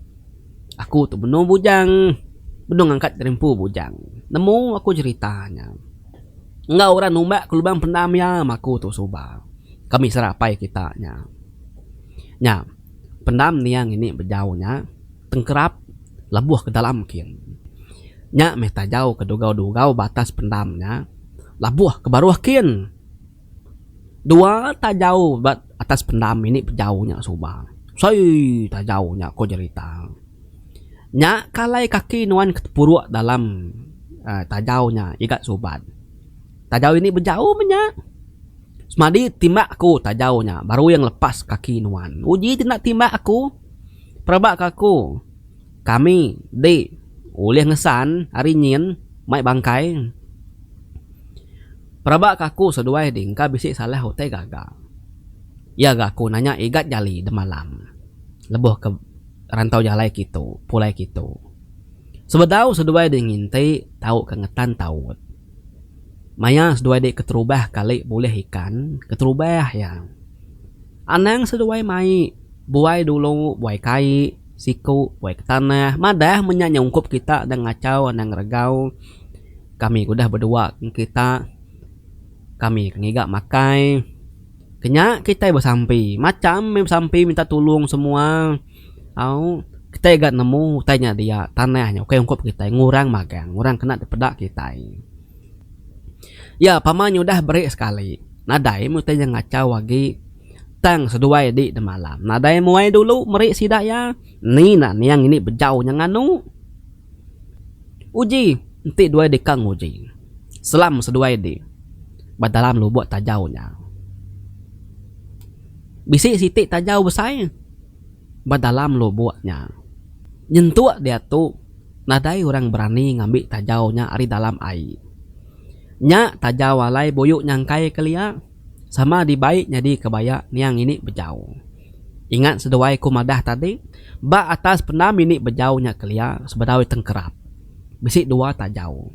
A: Aku tu benung bujang, benung ngangkat gerempu bujang. Nemu aku jerita nya. Enggau orang numbak ke lubang pendam iya meh aku tu suba. Kami sera apai kita nya. Nya, pendam nia ngini bejau nya, tengkerap lebuh ke dalam kin. Nya meh tajau ke dugau-dugau batas pendam nya, labuh ke baruh kin. Dua tajau ba atas pendam ini pejau nya suba. Sei tajau nya ko jerita. Nya ka alai kaki nuan ke tepuruk dalam uhh tajau nya iga suban. Tajau ini bejau meh nya. Semadi timbak aku tajau nya baru iya ngelepas kaki nuan. Uji ti enda timbak aku. Peraba ka aku kami di ulih ngesan ari nyin mai bangkai. Peraba ke aku seduai ding ka bisi salah utai gaga. Iya ga aku nanya Igat Jali demalam lebuh ke rantau jalai kitu pulai kitu. Sebedau seduai ding nginti tau ke ngetan taut. Maya seduai dek keterubah kali bulih ikan keterubah iya. Anang seduai mai buai dulu buai kai siku buai ke tanah madah menya nyungkup kita dang ngachau anang regau. Kami udah bedua kita kami ke ngiga makai kenya kitai besampi macham mih besampi minta tulung semua au kitai ga nemu utai nya dia tanah nya ukai ungkup kitai ngurang magang ngurang kena dipeda kitai ya pama nya udah beri sekali nadai mih utai nya ngachau agi tang seduai di demalam nadai muai dulu meri sida iya ni nak niang ini bejau nya nganu. Uji enti duai deka nguji. Selam seduai di ba dalam lubuk tajau nya. Bisi siti tajau besai ba dalam lubuk nya. Nyentuk diatu nadai orang berani ngambi tajau nya ari dalam ai. Nya tajau alai buyu nyangkai kelia. Sama dibai nyadi ke baya niang ini bejau. Ingat seduai ku madah tadi, ba atas pendam ini bejau nya kelia sebedau tengkerap. Bisi dua tajau.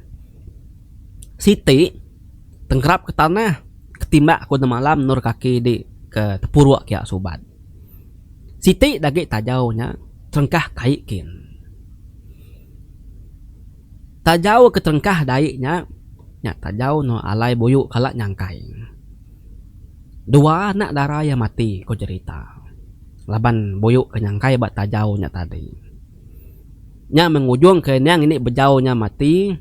A: Siti, tengkerap ke tanah, ke timbak ku nemalam endur kaki di ke tepuruk kia subat. Siti dagi tajau nya terengkah kai kin. Tajau ke terengkah dai nya, nya tajau no alai buyu kala nyangkai. Dua anak dara iya mati, ko jerita laban buyu ke nyangkai ba tajau nya tadi. Nya mengujungka endang indi bejau nya mati,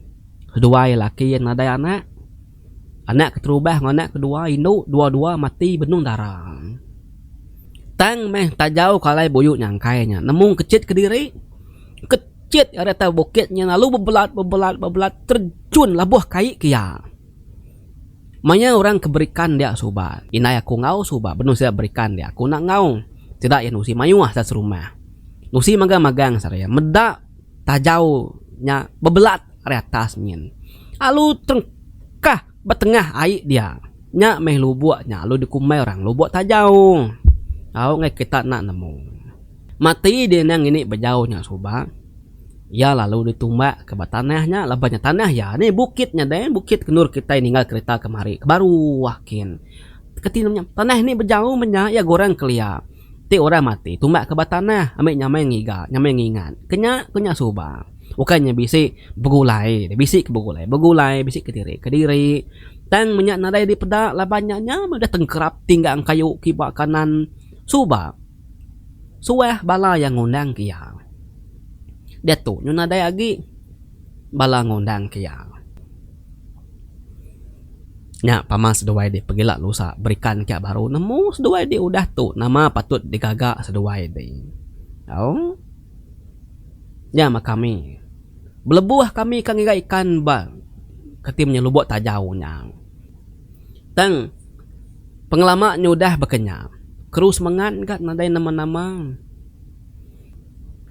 A: seduai laki iya nadai anak. Anak keterubah enggau anak kedua indu dua-dua mati benung dara. Tang meh tajauka alai buyu nyangkai nya nemu kechit kediri, kechit ari atas bukit nya lalu bebelat bebelat bebelat terjun labuh kai ke iya. Maya orang ke berikan dia suba, indai aku enggau suba benung sida berikan dia aku enda enggau. Sida iya nusi mayuh asa serumah. Nusi magang-magang seharian meda. tajau nya bebelat ari atas nyin. Alu terengkah ba tengah ai dia. Nya meh lubok nya alu dikumbai orang lubok tajau. Tau ngai kita enda nemu. Mati dia endang ngini bejau nya suba iya lalu ditumbak ke ba tanah nya laban nya tanah iya ni bukit nya deh bukit ke endur kitai ninggal kereta kemari ke baru kin. Keti nya tanah nih bejau menya iya gorang kelia. Ti orang mati tumbak ke ba tanah ambi nyamai ngiga nyamai ngingat ke nya ke nya suba ukai nya bisi begulai bisi ke begulai begulai bisi ke diri ke diri tang menya nadai dipeda laban nya nya meh udah tengkerap ti enggang kayu kiba kanan suba suah bala yang ngundang ke iya diatu nyu nadai agi bala ngundang ke iya. Nya pama seduai di pegila lusa berikan ka baru nemu seduai di udah tu nama patut digaga seduai di tau nya mah kami belebuh kami ka ngiga ikan ba kati menye lubok tajau nya tang pengelama nya udah baka nya keru semengat ga nadai nama-nama.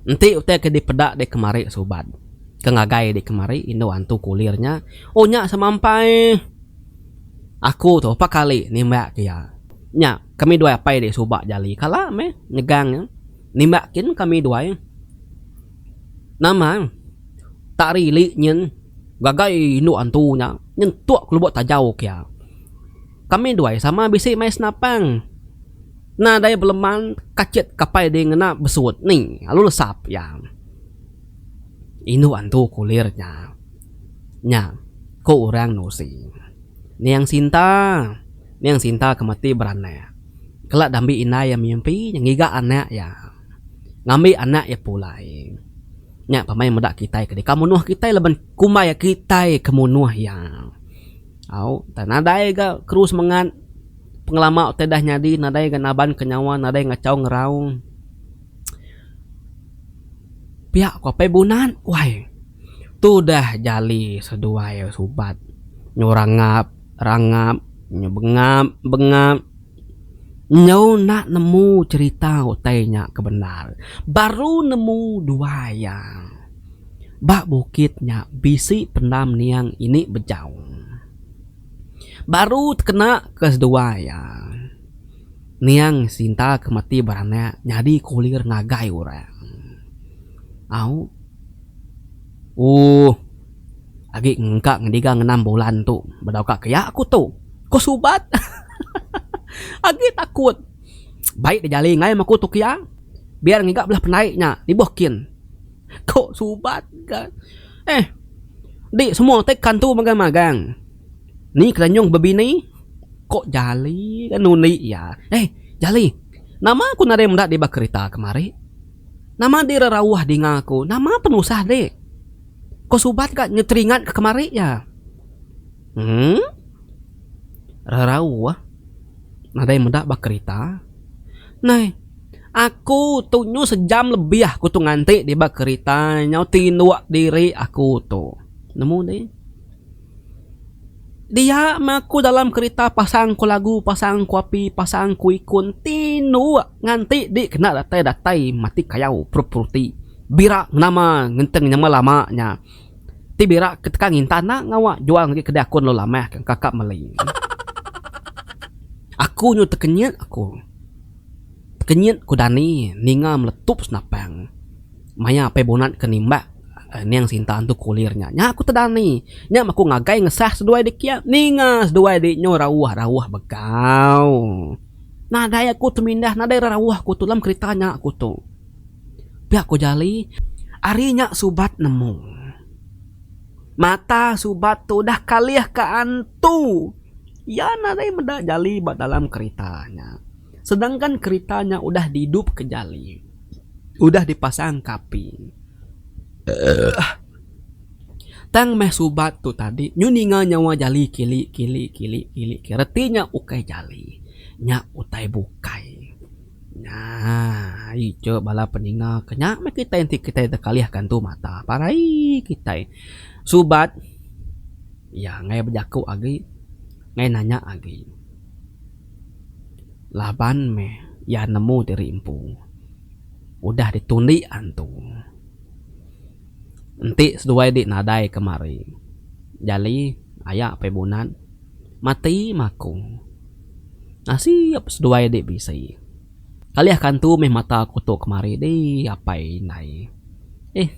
A: Enti utai ke dipeda di kemari subat ke ngagai di kemari indu antu kulir nya, oh nya semampai aku tu empat kali nimbak ke iya. Nya kami duai apai di suba jali kala meh nyegang iya. Nimbak kin kami duai nama tak rili nyin ngagai indu antu nya nyentuk lubuk tajau ke iya. Kami duai sama bisi mai senapang. Nadai beleman kacit kapai ding ngena besut ni alu lesap iya. Indu antu kulir nya. Nya, ku orang Nusi. Niang Sinta, Niang Sinta ke mati beranak. Kala dambi indai iya mimpi nya ngiga anak iya. Ngambi anak iya pulai. Nya pemai meda kitai ke deka munuh kitai laban kumbai kitai ke munuh iya. Au, entah nadai ga keru semengat pengelama utai dah nyadi, nadai ga naban ke nyawa, nadai ngachau ngeraung. Pia ku apai Bunan, wai. Tu dah jali seduai subat. Nyu rangap, rangap. Nyu bengap, bengap. Enjau enda nemu cerita utai nya ke bendar. Baru nemu dua iya. Ba bukit nya bisi pendam niang ini bejau. Baru tekena ke sedua iya. Niang Sinta ke mati beranak nyadi kulir ngagai orang. Au. Ooh. Agi engka ngendiga ngenang bulan tu. Bedauka ke iya aku tu. Ko Subat. Hahaha. Agi takut. Baik dejali enggai meh aku tu ke iya. Biar ngiga bela pendai nya ibuh kin. Ko Subat ga. Eh. Enti semua ti kan tu magang magang. Ni kerenyung bebini. Ko Jali ga nundi iya. Eh Jali. Nama ku nadai meda diba kerita kemari. Nama dira rauh dinga aku, nama penusah ndi? Ko subat ka nyeteringat ka kemari ja. Emm. Ra rauh. Nadai meda ba kerita. Neh. Aku tu nyu sejam lebih aku tu nganti di ba kerita nyau tinduk diri aku tu. Nemu deh. Dia meh aku dalam kerita pasang ko lagu, pasang ko api, pasang ko ikun tinduk. Nganti di kena datai datai mati kayau puru-puru ti bira nama ngenteng nyama lama nya ti bira ke teka nginta enda ngawa jual ngagai kedai aku lalu lamah ke engka ka meli. Aku nyu tekenyit aku. Tekenyit ku dani ninga meletup senapang maya apai bunut ke nimbak niang sinta entu kulir nya. Nya ku te dani nya meh ku ngagai ngesah seduai dikia ninga seduai di nyu rauh-rauh begau. Nadai aku temindah nadai rauh aku tu dalam kerita nya aku tu. Pia ku Jali. Ari nya Subat nemu mata Subat tu udah kalih ka antu. Iya nadai meda Jali ba dalam kerita nya. Sedangkan kerita nya udah diidupka Jali. Udah dipasangka api. Tang meh subat tu tadi nyu ninga nyawa jali kili kili kili kili kili reti nya ukai jali nya utai bukai aii ije bala peninga ke nya meh kitai enti kitai deka alih ka entu mata pa raie kitai subat iya ngai bejaku agi ngai nanya agi laban meh iya nemu diri empu udah ditundi antu. Enti seduai dik nadai kemari. Jali aya apai bunat mati maku. Nasib seduai dik bisi. Kalih kantu meh mata aku tu kemari di apai indai. Ih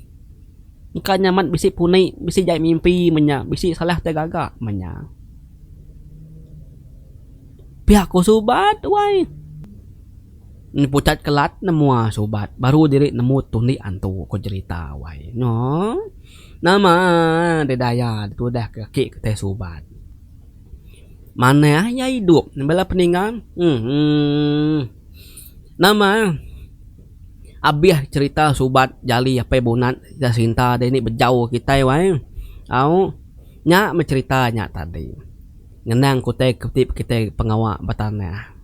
A: engka nya amat bisi puni bisi jai mimpi menya bisi salah ti gaga menya. Pia ku suba tuai. Nya pucat kelat nemua subat baru diri nemu tundi antu ko jerita wai no nama deh daya tudah ke aki ke tai subat manah iya idup bela peninggal uhh nama abih jerita subat jali apai bunat ga sinta deh ni bejau kitai wai au nya meh jerita nya tadi. Ngenang kutai kutip kitai pengawa betanah.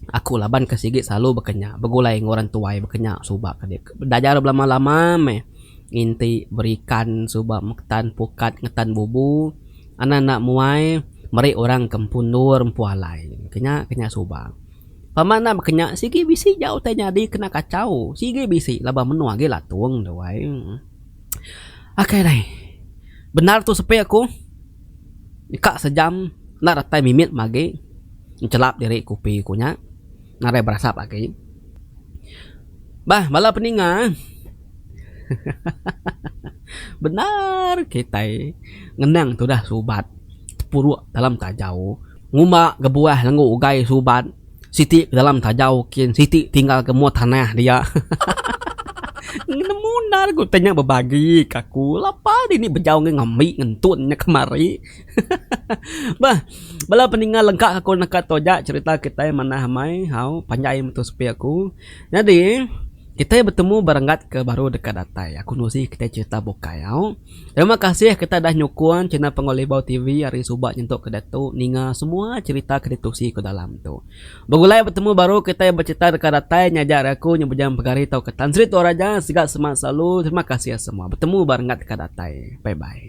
A: Aku laban ke sigi selalu baka nya begulai enggau orang tuai baka nya suba ke dep belajar belama-lama meh nginti berikan suba metan pukat ngetan bubu anak enda muai meri orang ke empu endur empu alai kenya ke nya suba. Pama enda baka nya sigi bisi ja utai nyadi kena kachau sigi bisi laban menua agi latung tu ai. Akai alai bendar tu sepi aku. Deka sejam enda datai mimit mah agi enchelap diri kopi ku nya nadai berasap agi. Bah bala peninga hahaha bendar kitai ngenang tudah subat tepuruk dalam tajau ngumba gebuah lenga ugai subat. Siti ke dalam tajau kin siti tinggal ke mua tanah dia. Nemu endar ku tanya bebagi ke aku lapa dini bejau ngan ngambi ngentun nya kemari. Beh bala peninga lengka ke aku neka tu aja cerita kitai manah amai hau panjai metu sepi aku. Nyadi kitai betemu berenggat ke baru deka datai aku nuzi kitai cerita bukai hau. Terima kasih kita dah nyukung channel Pengolibau TV ari suba nyentuk ke diatu ninga semua cherita ke ditusi ku dalam tu. Begulai betemu baru kitai becerita deka datai nya aja ari aku nya Bujang Pegari tauka Tan Sri Tua Raja sigat semak selalu terima kasih semua betemu ba renggat deka datai bye bye.